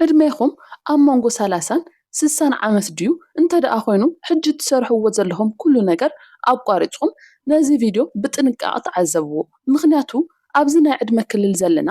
ዕድሜኹም ኣብ መንጎ ሰላሳን ስሳን ዓመት ድዩ? እንተድኣ ኮይኑ ሕጂ ትሰርሕዎ ዘለኹም ኩሉ ነገር ኣቋሪጽኩም ነዚ ቪድዮ ብጥንቃቐ ተዓዘብዎ። ምኽንያቱ ኣብዚ ናይ ዕድመ ክልል ዘለና፣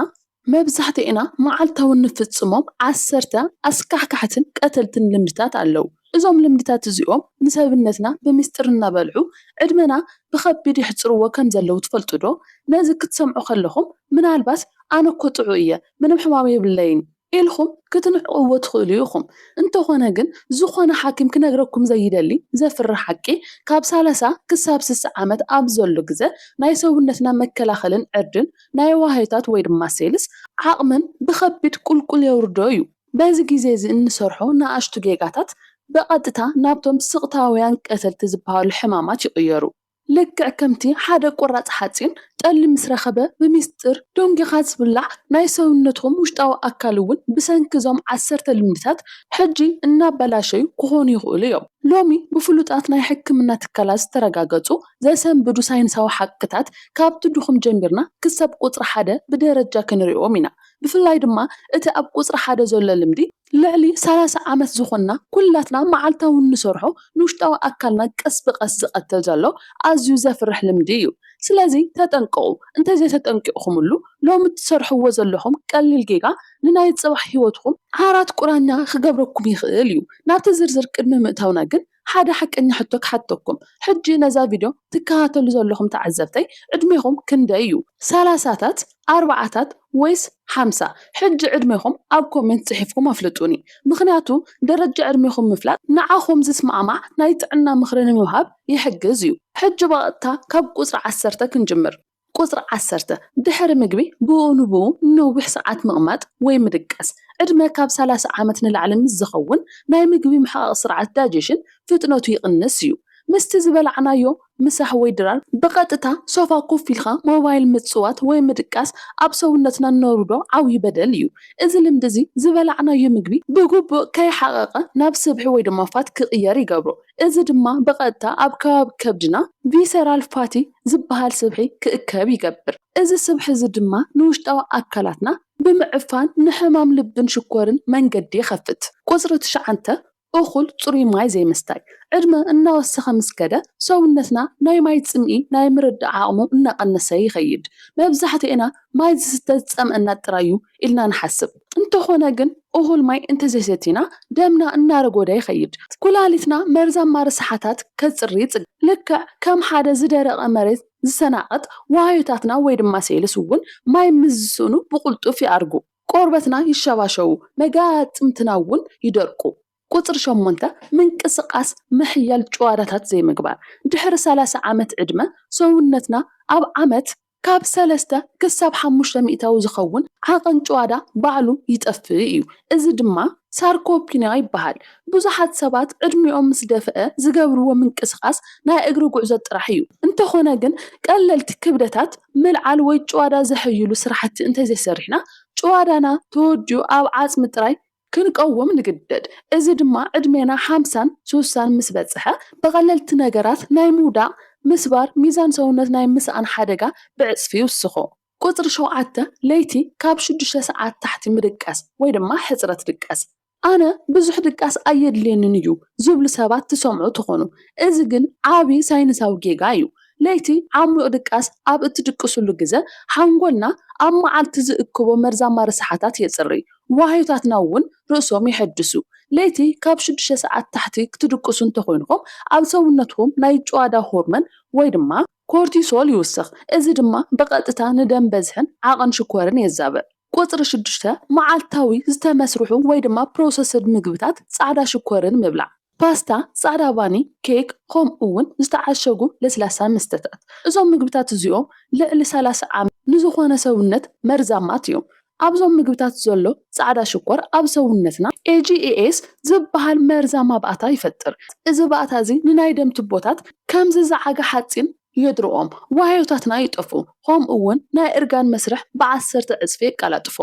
መብዛሕትኤና መዓልታዊ እንፍጽሞም ዓሰርተ ኣስካሕካሕትን ቀተልትን ልምድታት ኣለዉ እዞም ልምድታት እዚኦም ንሰብነትና ብሚስጥር እናበልዑ ዕድመና ብኸቢድ የሕጽርዎ ከምዘለዉ ትፈልጡዶ? ነዚ ክትሰምዑ ከለኹም ምናልባት ኣነኮ ጥዑይ እየ ምንም ሕማም የብለይን ኢልኩም ክትንዕቕዎ ትኽእሉ ኢኹም። እንተኾነ ግን ዝኾነ ሓኪም ክነግረኩም ዘይደሊ ዘፍርሕ ሓቂ ካብ ሳላሳ ክሳብ ስሳ ዓመት ኣብ ዘሎ ግዘ ናይ ሰውነትና መከላኸልን ዕርድን ናይ ዋህዮታት ወይ ድማ ሴልስ ዓቕምን ብኸቢድ ቁልቁል የውርዶ እዩ። በዚ ግዜ እዚ እንሰርሖ ንኣሽቱ ጌጋታት ብቐጥታ ናብቶም ስቕታውያን ቀተልቲ ዝበሃሉ ሕማማት ይቕየሩ። ልክዕ ከምቲ ሓደ ቁራጽ ሓጺን ጠሊ ምስ ረኸበ ብሚስጢር ደንጒኻ ዝብላዕ፣ ናይ ሰውነትኩም ውሽጣዊ ኣካል እውን ብሰንኪ እዞም ዓሰርተ ልምድታት ሕጂ እናበላሸዩ ክኾኑ ይኽእሉ እዮም። ሎሚ ብፍሉጣት ናይ ሕክምና ትካላት ዝተረጋገጹ ዘሰንብዱ ሳይንሳዊ ሓቅታት ካብቲ ድኹም ጀሚርና ክሳብ ቁጽሪ ሓደ ብደረጃ ክንሪኦም ኢና። ብፍላይ ድማ እቲ ኣብ ቁጽሪ ሓደ ዘሎ ልምዲ፣ ልዕሊ ሰላሳ ዓመት ዝኾንና ኩላትና መዓልታዊ እንሰርሖ ንውሽጣዊ ኣካልና ቀስ ብቐስ ዝቐትል ዘሎ ኣዝዩ ዘፍርሕ ልምዲ እዩ። ስለዚ ተጠንቀቑ፣ እንተዘይተጠንቂቕኩምሉ ሎሚ እትሰርሕዎ ዘለኹም ቀሊል ጌጋ ንናይ ጽባሕ ህይወትኩም ዓራት ቁራኛ ክገብረኩም ይኽእል እዩ። ናብቲ ዝርዝር ቅድሚ ምእታውና ግን ሓደ ሓቀኛ ሕቶ ክሓተኩም ሕጂ ነዛ ቪድዮ ትከታተሉ ዘለኹም ተዓዘብተይ ዕድሜኹም ክንደይ እዩ ሰላሳታት ኣርባዓታት ወይስ ሓምሳ ሕጂ ዕድሜኹም ኣብ ኮሜንት ጽሒፍኩም ኣፍልጡኒ ምኽንያቱ ደረጃ ዕድሜኹም ምፍላጥ ንዓኹም ዝስማዕማዕ ናይ ጥዕና ምኽሪ ንምሃብ ይሕግዝ እዩ ሕጂ ብቐጥታ ካብ ቁጽሪ ዓሰርተ ክንጅምር። ቁጽሪ ዓሰርተ፣ ድሕሪ ምግቢ ብኡ ንብኡ ንነዊሕ ሰዓት ምቕማጥ ወይ ምድቃስ፣ ዕድመ ካብ ሰላሳ ዓመት ንላዕሊ ምስ ዝኸውን ናይ ምግቢ ምሕቓቕ ስርዓት ዳይጀሽን ፍጥነቱ ይቕንስ እዩ። ምስቲ ዝበላዕናዮ ምሳሕ ወይ ድራር ብቐጥታ ሶፋ ኮፍ ኢልካ ሞባይል ምጽዋት ወይ ምድቃስ ኣብ ሰውነትና እነውርዶ ዓብዩ በደል እዩ። እዚ ልምዲ እዚ ዝበላዕናዮ ምግቢ ብግቡእ ከይሓቐቐ ናብ ስብሒ ወይ ድማ ፋት ክቕየር ይገብሮ። እዚ ድማ ብቐጥታ ኣብ ከባቢ ከብድና ቪሰራል ፋቲ ዝበሃል ስብሒ ክእከብ ይገብር። እዚ ስብሒ እዚ ድማ ንውሽጣዊ ኣካላትና ብምዕፋን ንሕማም ልብን ሽኮርን መንገዲ ይኸፍት። ቁጽሪ ትሽዓተ፣ እኹል ጽሩይ ማይ ዘይምስታይ። ዕድመ እናወሰኸ ምስ ከደ፣ ሰውነትና ናይ ማይ ጽምኢ ናይ ምርዳእ ዓቕሙ እናቐነሰ ይኸይድ። መብዛሕትኤና ማይ ዝስተ ዝጸምኣና ጥራይ እዩ ኢልና ንሓስብ። እንተኾነ ግን እኹል ማይ እንተዘይሰቲና ደምና እናረጎደ ይኸይድ። ኩላሊትና መርዛማ ርስሓታት ከጽሪ ይጽገም። ልክዕ ከም ሓደ ዝደረቐ መሬት ዝሰናቐጥ ዋህዮታትና ወይ ድማ ሴልስ እውን ማይ ምስ ዝስእኑ ብቕልጡፍ ይኣርጉ። ቆርበትና ይሸባሸቡ፣ መጋጥምትና እውን ይደርቁ። ቁጽሪ ሸሞንተ፣ ምንቅስቓስ ምሕያል ጭዋዳታት ዘይምግባር። ድሕሪ ሰላሳ ዓመት ዕድመ፣ ሰውነትና ኣብ ዓመት ካብ ሰለስተ ክሳብ ሓሙሽተ ሚእታዊ ዝኸውን ዓቐን ጭዋዳ ባዕሉ ይጠፍእ እዩ፣ እዚ ድማ ሳርኮፒንያ ይበሃል። ብዙሓት ሰባት ዕድሚኦም ምስ ደፍአ ዝገብርዎ ምንቅስቓስ ናይ እግሪ ጉዕዞ ጥራሕ እዩ፣ እንተኾነ ግን ቀለልቲ ክብደታት ምልዓል ወይ ጭዋዳ ዘሕይሉ ስራሕቲ እንተዘይሰሪሕና ጭዋዳና ተወዲኡ ኣብ ዓጽሚ ጥራይ ክንቀውም ንግደድ። እዚ ድማ ዕድሜና ሓምሳን ሱሳን ምስ በጽሐ፣ ብቐለልቲ ነገራት ናይ ምውዳቕ፣ ምስባር፣ ሚዛን ሰውነት ናይ ምስኣን ሓደጋ ብዕጽፊ ይውስኾ። ቁጽሪ ሸውዓተ፣ ለይቲ ካብ ሽዱሽተ ሰዓት ታሕቲ ምድቃስ ወይ ድማ ሕጽረት ድቃስ። ኣነ ብዙሕ ድቃስ ኣየድልየንን እዩ ዝብሉ ሰባት ትሰምዑ ትኾኑ። እዚ ግን ዓቢ ሳይንሳዊ ጌጋ እዩ። ለይቲ ዓሚቝ ድቃስ ኣብ እትድቅስሉ ግዘ፣ ሓንጎልና ኣብ መዓልቲ ዝእክቦ መርዛማ ረሳሓታት የጽርይ። ዋህዮታትና እውን ርእሶም የሐድሱ። ለይቲ ካብ ሽዱሽተ ሰዓት ታሕቲ ክትድቅሱ እንተኾይንኩም ኣብ ሰውነትኩም ናይ ጭዋዳ ሆርመን ወይ ድማ ኮርቲሶል ይውስኽ። እዚ ድማ ብቐጥታ ንደም በዝሕን ዓቕን ሽኮርን የዛብዕ። ቁጽሪ ሽዱሽተ፣ መዓልታዊ ዝተመስርሑ ወይ ድማ ፕሮሰስድ ምግብታት ጻዕዳ ሽኮርን ምብላዕ። ፓስታ፣ ጻዕዳ ባኒ፣ ኬክ፣ ኸምኡውን ዝተዓሸጉ ለስላሳ መስተታት። እዞም ምግብታት እዚኦም ልዕሊ ሰላሳ ዓመት ንዝኾነ ሰውነት መርዛማት እዮም። ኣብዞም ምግብታት ዘሎ ጻዕዳ ሽኮር ኣብ ሰውነትና AGEs ዝበሃል መርዛማ ባእታ ይፈጥር። እዚ ባእታ እዚ ንናይ ደም ቱቦታት ከም ዝዘዓገ ሓጺን የድርቖም፣ ዋህዮታትና ይጠፍኡ፣ ኸምኡውን ናይ እርጋን መስርሕ ብዓሰርተ ዕጽፊ የቀላጥፎ።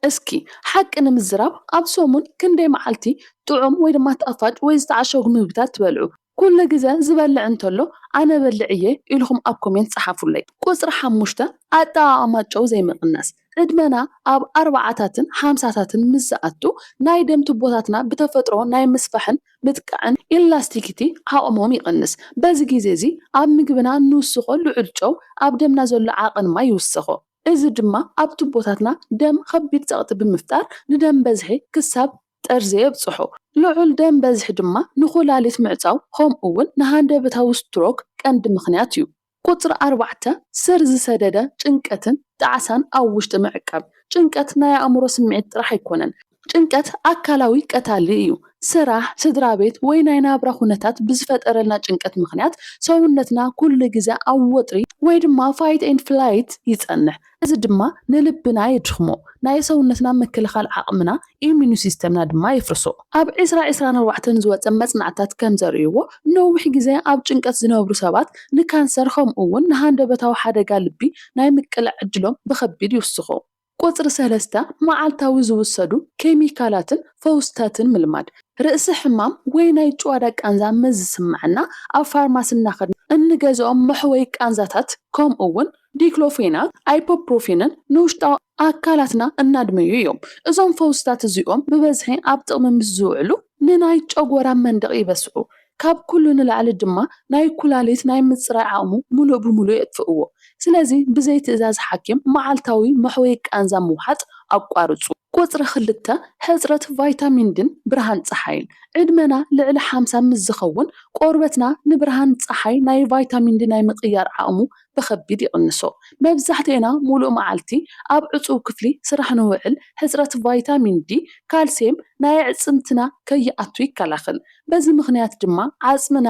እስኪ ሓቂ ንምዝራብ ኣብ ሰሙን ክንደይ መዓልቲ ጥዑም ወይ ድማ ጣፋጭ ወይ ዝተዓሸጉ ምግብታት ትበልዑ? ኩሉ ግዘ ዝበልዕ እንተሎ ኣነ በልዕ እየ ኢልኹም ኣብ ኮሜንት ፀሓፉለይ። ቁፅሪ ሓሙሽተ ኣጠቓቕማ ጨው ዘይምቕናስ። ዕድመና ኣብ ኣርባዓታትን ሓምሳታትን ምስ ዝኣቱ ናይ ደም ቱቦታትና ብተፈጥሮ ናይ ምስፋሕን ምጥቃዕን ኢላስቲኪቲ ዓቕሞም ይቕንስ። በዚ ግዜ እዚ ኣብ ምግብና እንውስኾ ልዑል ጨው ኣብ ደምና ዘሎ ዓቕን ማይ ይውስኾ። እዚ ድማ ኣብ ቱቦታትና ደም ኸቢድ ጸቕጢ ብምፍጣር ንደም በዝሒ ክሳብ ጠርዚ የብጽሖ። ልዑል ደም በዝሒ ድማ ንኹላሊት ምዕጻው ኸምኡውን ንሃንደበታዊ ስትሮክ ቀንዲ ምኽንያት እዩ። ቁጽሪ ኣርባዕተ፣ ስር ዝሰደደ ጭንቀትን ጣዕሳን ኣብ ውሽጢ ምዕቃብ። ጭንቀት ናይ ኣእምሮ ስምዒት ጥራሕ ኣይኮነን። ጭንቀት ኣካላዊ ቀታሊ እዩ። ስራሕ፣ ስድራቤት ወይ ናይ ናብራ ኩነታት ብዝፈጠረልና ጭንቀት ምኽንያት ሰውነትና ኩሉ ግዘ ኣብ ወጥሪ ወይ ድማ ፋይት ኤንድ ፍላይት ይፀንሕ እዚ ድማ ንልብና የድኽሞ ናይ ሰውነትና ምክልኻል ዓቕምና፣ ኢሚኑ ሲስተምና፣ ድማ የፍርሶ። ኣብ ዕስራ ዕስራን ኣርባዕተን ዝወፀ መፅናዕትታት ከምዘርእይዎ ንነዊሕ ግዘ ኣብ ጭንቀት ዝነብሩ ሰባት ንካንሰር ከምኡ እውን ንሃንደበታዊ ሓደጋ ልቢ ናይ ምቅላዕ ዕድሎም ብኸቢድ ይውስኾ። ቁጽሪ ሰለስተ፣ መዓልታዊ ዝውሰዱ ኬሚካላትን ፈውስታትን ምልማድ። ርእሲ ሕማም ወይ ናይ ጭዋዳ ቃንዛ ምስ ዝስምዓና፣ ኣብ ፋርማሲ እናኸድና እንገዝኦም መሕወዪ ቃንዛታት ከምኡ'ውን ዲክሎፌናክ፣ ኣይፖፕሮፊንን ንውሽጣዊ ኣካላትና እናድመዩ እዮም። እዞም ፈውስታት እዚኦም ብበዝሒ ኣብ ጥቕሚ ምስ ዝውዕሉ ንናይ ጨጎራ መንደቕ ይበስዑ። ካብ ኩሉ ንላዕሊ ድማ ናይ ኩላሊት ናይ ምጽራይ ዓቕሙ ምሉእ ብምሉእ የጥፍእዎ። ስለዚ ብዘይ ትእዛዝ ሓኪም መዓልታዊ መሕወዪ ቃንዛ ምውሓጥ ኣቋርጹ። ቁጽሪ ክልተ፣ ሕጽረት ቫይታሚን ዲን ብርሃን ጸሓይን። ዕድመና ልዕሊ ሓምሳ ምስ ዝኸውን ቆርበትና ንብርሃን ጸሓይ ናይ ቫይታሚን ዲ ናይ ምቕያር ዓቕሙ ብኸቢድ ይቕንሶ። መብዛሕትኤና ሙሉእ መዓልቲ ኣብ ዕጹው ክፍሊ ስራሕ ንውዕል፣ ሕጽረት ቫይታሚን ዲ፣ ካልሴም፣ ናይ ኣዕጽምትና ከይኣቱ ይከላኸል። በዚ ምኽንያት ድማ ዓጽምና።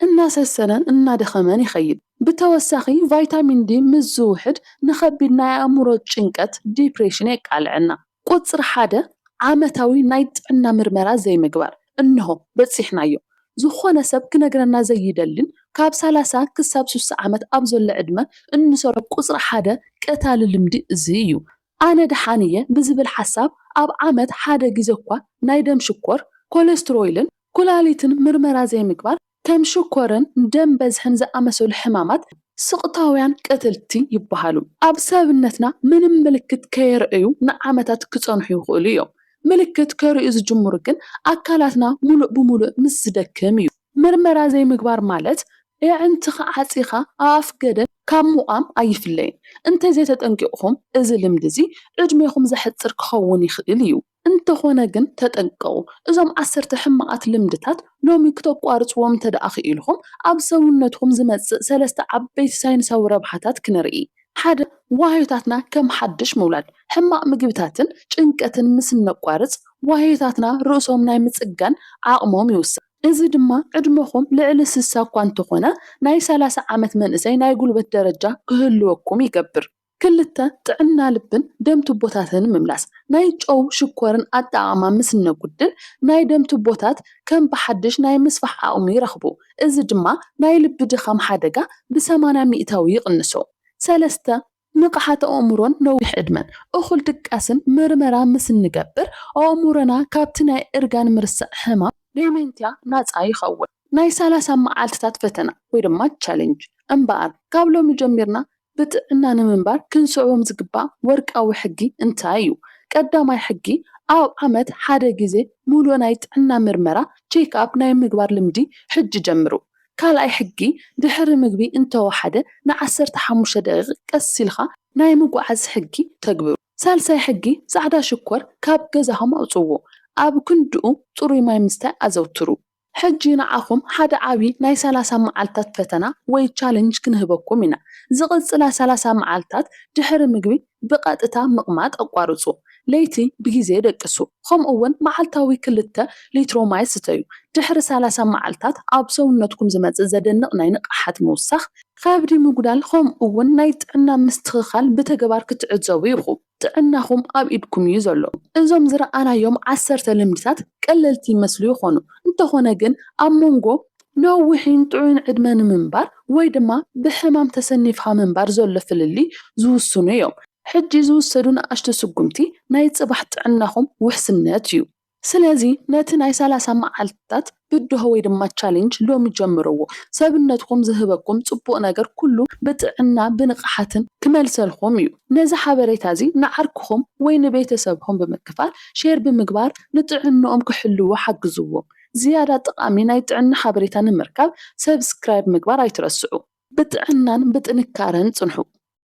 እናሰሰነን እናደኸመን ይኸይድ። ብተወሳኺ ቫይታሚን ዲ ምስ ዝውሕድ ንኸቢድ ናይ ኣእምሮ ጭንቀት፣ ዲፕሬሽን፣ የቃልዐና። ቁጽሪ ሓደ ዓመታዊ ናይ ጥዕና ምርመራ ዘይምግባር እንሆ በጺሕናዮ። ዝኾነ ሰብ ክነግረና ዘይደልን ካብ ሰላሳ ክሳብ ስሳ ዓመት ኣብ ዘሎ ዕድመ እንሰርዖ ቁጽሪ ሓደ ቀታሊ ልምዲ እዚ እዩ። ኣነ ደሓን እየ ብዝብል ሓሳብ ኣብ ዓመት ሓደ ግዜ'ኳ ናይ ደም ሽኮር፣ ኮለስትሮይልን ኩላሊትን ምርመራ ዘይምግባር፣ ከም ሽኮርን ደም በዝሕን ዝኣመሰሉ ሕማማት ስቕታውያን ቀተልቲ ይበሃሉ። ኣብ ሰብነትና ምንም ምልክት ከየርእዩ ንዓመታት ክጸንሑ ይኽእሉ እዮም። ምልክት ከርእዩ ዝጅምሩ ግን ኣካላትና ምሉእ ብምሉእ ምስ ዝደክም እዩ። ምርመራ ዘይምግባር ማለት የዕንትኻ ዓጺኻ ኣብ ኣፍ ገደል ካብ ምቛም ኣይፍለይን። እንተዘይተጠንቂቕኩም እዚ ልምዲ እዚ ዕድሜኹም ዘሕጽር ክኸውን ይኽእል እዩ። እንተኾነ ግን ተጠንቀቑ፣ እዞም ዓሰርተ ሕማቓት ልምድታት ሎሚ ክተቋርጽዎም እንተደኣ ክኢልኩም፣ ኣብ ሰውነትኩም ዝመጽእ ሰለስተ ዓበይቲ ሳይንሳዊ ረብሓታት ክንርኢ። ሓደ፣ ዋህዮታትና ከም ሓድሽ ምውላድ። ሕማቕ ምግብታትን ጭንቀትን ምስ እነቋርጽ፣ ዋህዮታትና ርእሶም ናይ ምጽጋን ዓቕሞም ይውስኽ። እዚ ድማ ዕድመኹም ልዕሊ ስሳ እኳ እንተኾነ፣ ናይ ሰላሳ ዓመት መንእሰይ ናይ ጉልበት ደረጃ ክህልወኩም ይገብር። ክልተ፣ ጥዕና ልብን ደም ቱቦታትን ምምላስ፣ ናይ ጨው፣ ሽኮርን ኣጠቓቕማ ምስ እነጉድል፣ ናይ ደም ቱቦታት ከም ብሓድሽ ናይ ምስፋሕ ዓቕሚ ይረኽቡ፣ እዚ ድማ ናይ ልቢ ድኻም ሓደጋ ብሰማንያ ሚእታዊ ይቕንሶ። ሰለስተ፣ ንቕሓት ኣእምሮን ነዊሕ ዕድመን፣ እኹል ድቃስን ምርመራ ምስ እንገብር፣ ኣእምሮና ካብቲ ናይ እርጋን ምርሳዕ ሕማም፣ ዴሜንቲያ፣ ናጻ ይኸውን። ናይ ሰላሳ መዓልትታት ፈተና ወይ ድማ ቻሌንጅ፣ እምበኣር ካብ ሎሚ ጀሚርና ብጥዕና ንምንባር ክንስዕቦም ዝግባእ ወርቃዊ ሕጊ እንታይ እዩ? ቀዳማይ ሕጊ፣ ኣብ ዓመት ሓደ ግዜ ምሉእ ናይ ጥዕና ምርመራ፣ ቼክ ኣፕ፣ ናይ ምግባር ልምዲ ሕጂ ጀምሩ። ካልኣይ ሕጊ፣ ድሕሪ ምግቢ እንተወሓደ ን ዓሰርተ ሓሙሽተ ደቒቕ ቀስ ኢልካ ናይ ምጉዓዝ ሕጊ ተግብሩ። ሳልሳይ ሕጊ፣ ጻዕዳ ሽኮር ካብ ገዛኹም ኣውጽዎ። ኣብ ክንድኡ ጽሩይ ማይ ምስታይ ኣዘውትሩ። ሕጂ ንዓኹም ሓደ ዓቢ ናይ ሰላሳ መዓልታት ፈተና ወይ ቻለንጅ ክንህበኩም ኢና። ዝቕጽላ ሰላሳ መዓልታት ድሕሪ ምግቢ ብቐጥታ ምቕማጥ ኣቋርጹ። ለይቲ ብግዜ ደቅሱ፣ ከምኡ'ውን መዓልታዊ ክልተ ሊትሮ ማይ ስተዩ። ድሕሪ ሰላሳ መዓልታት ኣብ ሰውነትኩም ዝመጽእ ዘደንቕ ናይ ንቕሓት ምውሳኽ፣ ከብዲ ምጉዳል ከምኡ'ውን ናይ ጥዕና ምስትኽኻል ብተግባር ክትዕዘቡ ኢኹም። ጥዕናኹም ኣብ ኢድኩም እዩ ዘሎ። እዞም ዝረኣናዮም ዓሰርተ ልምድታት ቀለልቲ ይመስሉ ይኾኑ፣ እንተኾነ ግን ኣብ መንጎ። ነዊሕን ጥዑይን ዕድመ ንምንባር ወይ ድማ ብሕማም ተሰኒፍካ ምንባር ዘሎ ፍልልይ ዝውስኑ እዮም። ሕጂ ዝውሰዱ ንኣሽቱ ስጉምቲ ናይ ጽባሕ ጥዕናኹም ውሕስነት እዩ። ስለዚ ነቲ ናይ ሰላሳ መዓልታት ብድሆ ወይ ድማ ቻሌንጅ ሎሚ ጀምርዎ። ሰብነትኩም ዝህበኩም ጽቡቕ ነገር ኩሉ ብጥዕና ብንቕሓትን ክመልሰልኩም እዩ። ነዚ ሓበሬታ እዚ ንዓርክኹም ወይ ንቤተሰብኩም ብምክፋል ሼር ብምግባር ንጥዕንኦም ክሕልዉ ሓግዝዎም። ዝያዳ ጠቓሚ ናይ ጥዕና ሓበሬታ ንምርካብ ሰብስክራይብ ምግባር ኣይትረስዑ። ብጥዕናን ብጥንካረን ጽንሑ።